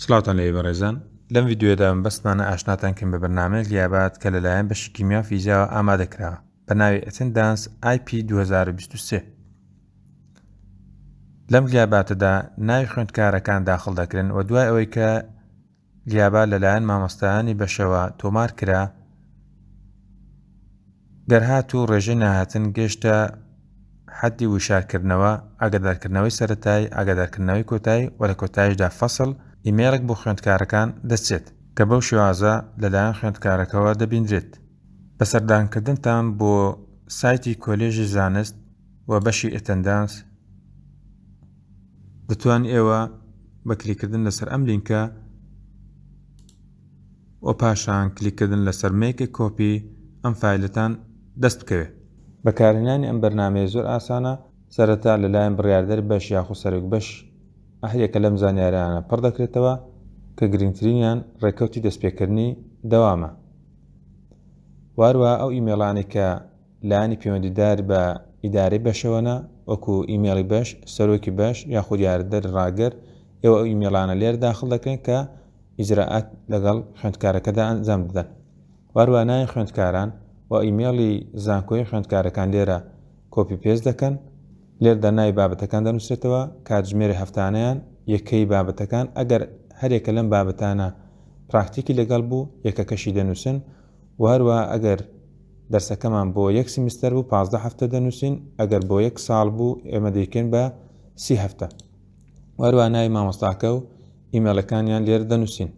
سڵاوتان لێبێ بەڕێزان لەم ڤیدیۆیەدا مەبەستمانە ئاشناتان کەم بە بەرنامەیەک لیابات کە لەلایەن بەشی کیمیا و فیزیاوە ئامادە کراوە بە ناوی ئەتندانس IP 2023 لەم لیاباتەدا ناوی خوێندکارەکان داخڵ دەکرێن و دوای ئەوەی کە لیابا لەلایەن مامۆستایانی بەشەوە تۆمار کرا دەرهاتوو ڕێژەی نەهاتن گەیشتە حەدی وشارکردنەوە، ئاگادارکردنەوەی سەرەتایی، ئاگادارکردنەوەی کۆتایی و لە کۆتاییشدا فەسڵ، ئیمەیڵێک بۆ خوێندکارەکان دەچێت، کە بەو شێوازە لەلایەن خوێندکارەکەوە دەبیندرێت. بە سەردانکردنتان بۆ سایتی کۆلێژی زانست و بەشی ئەتەندانس، دەتوان ئێوە بە کلیککردن لەسەر ئەم لینکە، و پاشان کلیک کردن لەسەر Make a Copy ئەم فایلەتان دەست بکەوێت. بەکارهێنانی ئەم بەرنامەیە زۆر ئاسانە، سەرەتا لەلایەن بڕیاردەر بەش یاخود سەرۆک بەش هەر یەکە لەم زانیارانە پڕ دەکرێتەوە کە گرنگترینیان ڕێکەوتی دەستپێکردنی دەوامە واروەها ئەو ئیمێڵانەی کە لایەنی پەیوەندیدار بە ئیدارەی بەشەوەنە، وەکو ئیمەیڵی بەش، سەرۆکی بەش یاخود یارەدەری ڕاگر، ئێوە ئەو ئیمەیڵانە لێرە داخڵ دەکرێن کە ئیجرائات لەگەڵ خوێندکارەکەدا ئەنجام دەدەن و هەروە ناوی خوێندکاران و ئیمەیڵی زانکۆی خوێندکارەکان لێرە کۆپی پێست دەکەن لێردا ناوی بابەتەکان دەنووسێتەوە کاتژمێری هەفتانیان یەکەی بابەتەکان ئەگەر هەرێکە لەم بابەتانە پراکتیکی لەگەڵ بوو یەکەکەشی دەنووسن و هەروەها ئەگەر دەرسەکەمان بۆ یەک سیمستەر بوو پازدە هەفتە دەنووسین ئەگەر بۆ یەک ساڵ بوو ئێمە دەیکەین بە سی هەفتە و هەروە ناوی مامۆستاکە و ئیمێڵەکانیان لێرە دەنووسین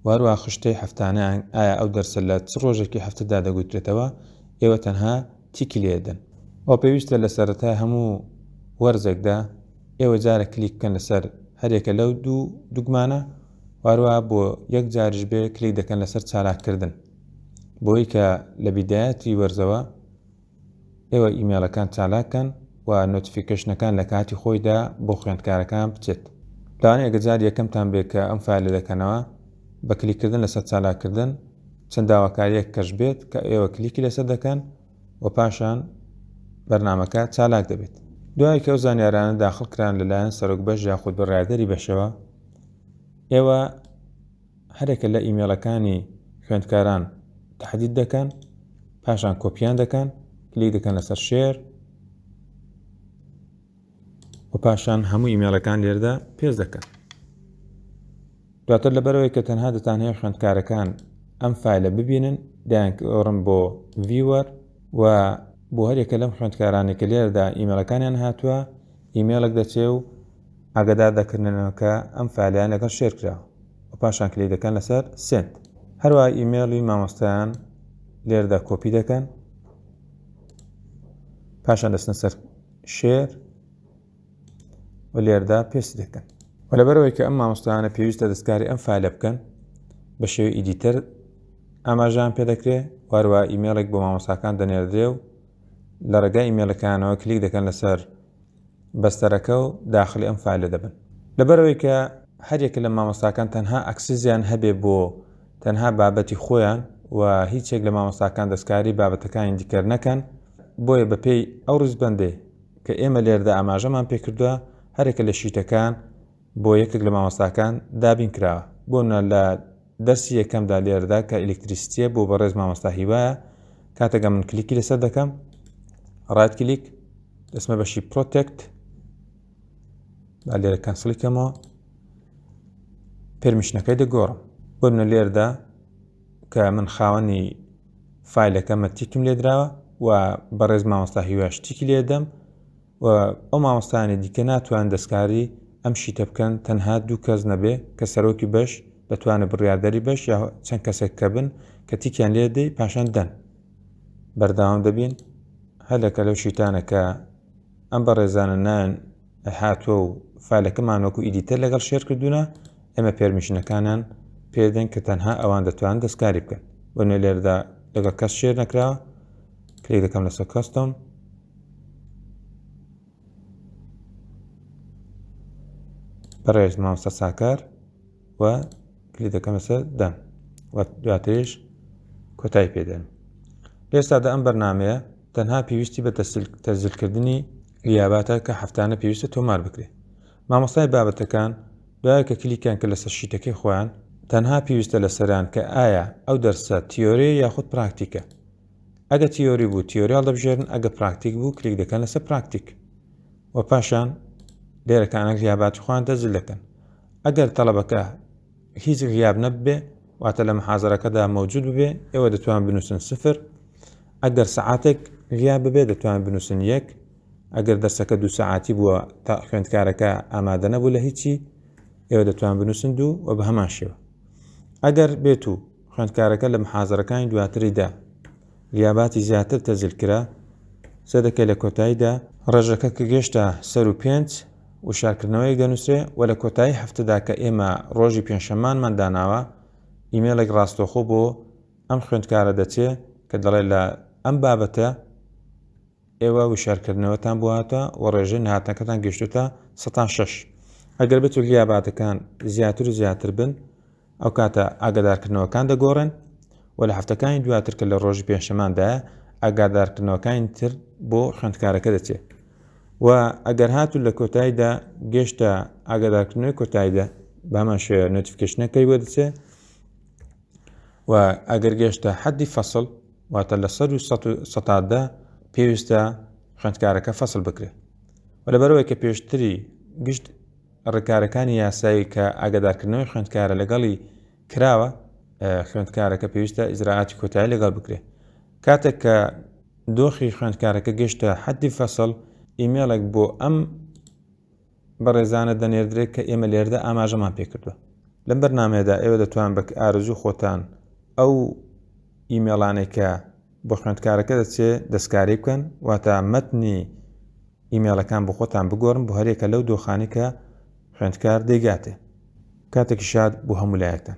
واروا خشتەی هەفتانیان ئایا ئەو دەرسە لە چ ڕۆژێکی هەفتەدا دەگوترێتەوە ئێوە تەنها تیکی لێدەن ئەو پێویستە لە سەرەتای هەموو وەرزێکدا ئێوە جارە کلیک بکەن لەسەر هەرێکە لەو دوو دوگمانە واروا بۆ یەک جاریش بێ کلیک دەکەن لەسەر چالاککردن بۆی کە لە بیدایەتی وەرزەوە ئێوە ئیمێلەکان چالاکەن و نۆتیفیکەشنەکان لە کاتی خۆیدا بۆ خوێندکارەکان بچێت لەوان ئەگەجار یەکەمتان بێت کە ئەم فایلە دەکەنەوە بە کلیکردن لەسەر چالاکردن چەند داواکاریەک کەش بێت کە ئێوە کلیکی لەسەر دەکەن و پاشان بەرنامەکە چالاک دەبێت. دوای کە ئەو زانیارانە داخڵ کران لەلایەن سەرۆک بەش یاخود بڕیاردەری بەشەوە، ئێوە هەرێکە لە ئیمێڵەکانی خوێندکاران تحدید دەکەن، پاشان کۆپیان دەکەن، کلیک دەکەن لەسەر شێر، و پاشان هەموو ئیمێڵەکان لێردا پێست دەکەن دواتر لەبەرەوەی کە تەنها دەتانەیە خوێندکارەکان ئەم فیلە ببینن دایانکەڕم بۆ ڤیوەر و بۆ هەرێکە لەم خوێندکارانی کە لێردا ئیمێلەکانیان هاتووە ئیمێلک دەچێ و ئاگدار دەکردنەوە کە ئەم فیلیان لەگەڵ شێرکرا و پاشان کلی دەکەن لەسەر سنت هەروە ئیمێڵی مامۆستایان لێردا کۆپی دەکەن پاشان دەستن سەر شێر و لێردا پێست دەکەن و لەبەرەوەی کە ئەم مامۆستایانە پێویستە دەستکاری ئەم فالە بکەن بە شێوی ئیدیتەر ئاماژان پێ دەکرێ واروا ئیمێڵێک بۆ مامۆستاکان دەنێردرێ و لە ڕێگای ئیمێلەکانەوە کلیک دەکەن لەسەر بەستەرەکە و داخلی ئەم فالە دەبن لەبەرەوەی کە هەریەکە لە مامۆستاکان تەنها ئەکسزیان هەبێ بۆ تەنها بابەتی خۆیان و هیچ یەک لە مامۆستاکان دەستکاری بابەتەکانی دیکەر نەکەن، بۆیە بەپێی ئەو ڕیزبەندەی کە ئێمە لێرەدا ئاماژەمان پێکردوە هەرێکە لە شیتەکان بۆ یەکێک لە مامۆستاکان دابین کراوە بۆنمونە لە دەرسی یەکەمدا لێرەدا کە ئیلکتریستیە بۆ بەڕێز مامۆستا هیوایە کاتەگە من کلیکی لەسەر دەکەم ڕایت کلیک دەسمە بەشی پرۆتێکت با لێرە کەنسڵی کەمەوە پێرمیشنەکەی دەگۆڕم بۆ منە لێردا کە من خاوەنی فیلەکەمە تیکم لێدراوە و بەڕێز مامۆستا هیواش تیکی لێدەم و ئەو مامۆستانی دیکە ناتوان دەستکاری ئەم شیتە بکەن تەنها دوو کەس نەبێ کە سەرۆکی بەش دەتوانە بڕاردەری بەش یا چەند کەسێک کە بن کە تیکیان لێ دەی پاشان دەن بەرداوام دەبین هەلەکە لەو شیتانەکە ئەم بەڕێزانە نایەن هاتووە و فالەکەمان وەکو ئیدیتەر لەگەڵ شێر کردوونە ئێمە پێرمیشنەکانان پێدەن کە تەنها ئەوان دەتوان دەستکاری بکەن بە نوێ لێردا لەگەڵ کەس شێر نەکرا کلێک دەکەم لەسەر کەستۆم بەڕێز مامۆستا ساکار و کلی دەکەم لەسەر دەم و دواتریش کۆتای پێدەن ئێستادا ئەم بەرنمەیە تەنها پێویستی بە تەسجلکردنی لیاباتە کە هەفتانە پێویستە تۆمار بکرێت مامۆستای بابەتەکان دوای کە کلیکیان کە لەسەر شیتەکەی خۆیان تەنها پێویستە لە سەران کە ئایا ئەو دەرسە تیۆری یاخود پراکتیکە ئەگە تیۆری بوو تیۆریال دەبژێرن ئەگە پراکتیک بوو کلیک دەکەن لەسەر پراکتیک و پاشان لێرەکانە لیاباتی خوان دەزل دەکەن ئەگەر تەڵەبەکە هیچ غیاب نەببێ واتە لە محازەرەکەدا مەوجود ببێ ئێوە دەتوان بنووسن سفر ئەگەر سعاتێک غیاب ببێ دەتوان بنووسن یەک ئەگەر دەرسەکە دوو سعاتی بووە تا خوێندکارەکە ئامادە نەبوو لە هیچی ئێوە دەتوان بنووسن دوو و بە هەمان شێوە ئەگەر بێت و خوێندکارەکە لە محازەرەکانی دواتریدا لیاباتی زیاتر تەزل کرا سەدەکە لە کۆتاییدا ڕێژەکە کە گەشتە سەر و پێنج وشارکردنەوەیەک دەنووسێ و لە کۆتایی هەفتەدا کە ئێمە ڕۆژی پێنجشەمانمان داناوە ئیمێڵێک ڕاستەوخۆ بۆ ئەم خوێندکارە دەچێ کە دەڵێ لە ئەم بابەتە ئێوە وشیارکردنەوەتان بۆ هاتوە و ڕێژەی نەهاتنەکەتان گەشتوتە سەتا شەش ئەگەر بێت و لیاباتەکان زیاتر و زیاتر بن ئەو کاتە ئاگدارکردنەوەکان دەگۆڕن و لە هەفتەکانی دواتر کە لە ڕۆژی پێنجشەماندا ئاگادارکردنەوەکانی تر بۆ خوێندکارەکە دەچێت و ئەگەر هاتو لە کۆتاییدا گەشتە ئاگادارکردنەوەی کۆتاییدا بامان شێ نوتیفکشنەکەی وەدچێت و ئەگەر گەشتە حەدی فەسڵ واتە لە سەد و سەتا دە پێویستە خوێندکارەکە فەسل بکرێ و لەبەرەوەی کە پێشتری گشت ڕێکارەکانی یاسایی کە ئاگادارکردنەوەی خوێندکارە لەگەڵی کراوە خوێندکارەکە پێویستە ئیزراعاتی کۆتایی لەگەڵ بکرێ کاتێک کە دۆخی خوێندکارەکە گەشتە حەدی فەسڵ ئیمێڵێک بۆ ئەم بەڕێزانە دەنێردرێت کە ئێمە لێردا ئاماژەمان پێکردووە لەم بەرنمەیەدا ئێوە دەتوان بە ئارزوی خۆتان ئەو ئیمێڵانەی کە بۆ خوێندکارەکە دەچێت دەستکاری بکەن واتە مەتنی ئیمێڵەکان بۆ خۆتان بگۆرن بۆ هەرێکە لەو دۆخانی کە خوێندکار دەیگاتێ کاتێکی شاد بۆ هەمولایەکتان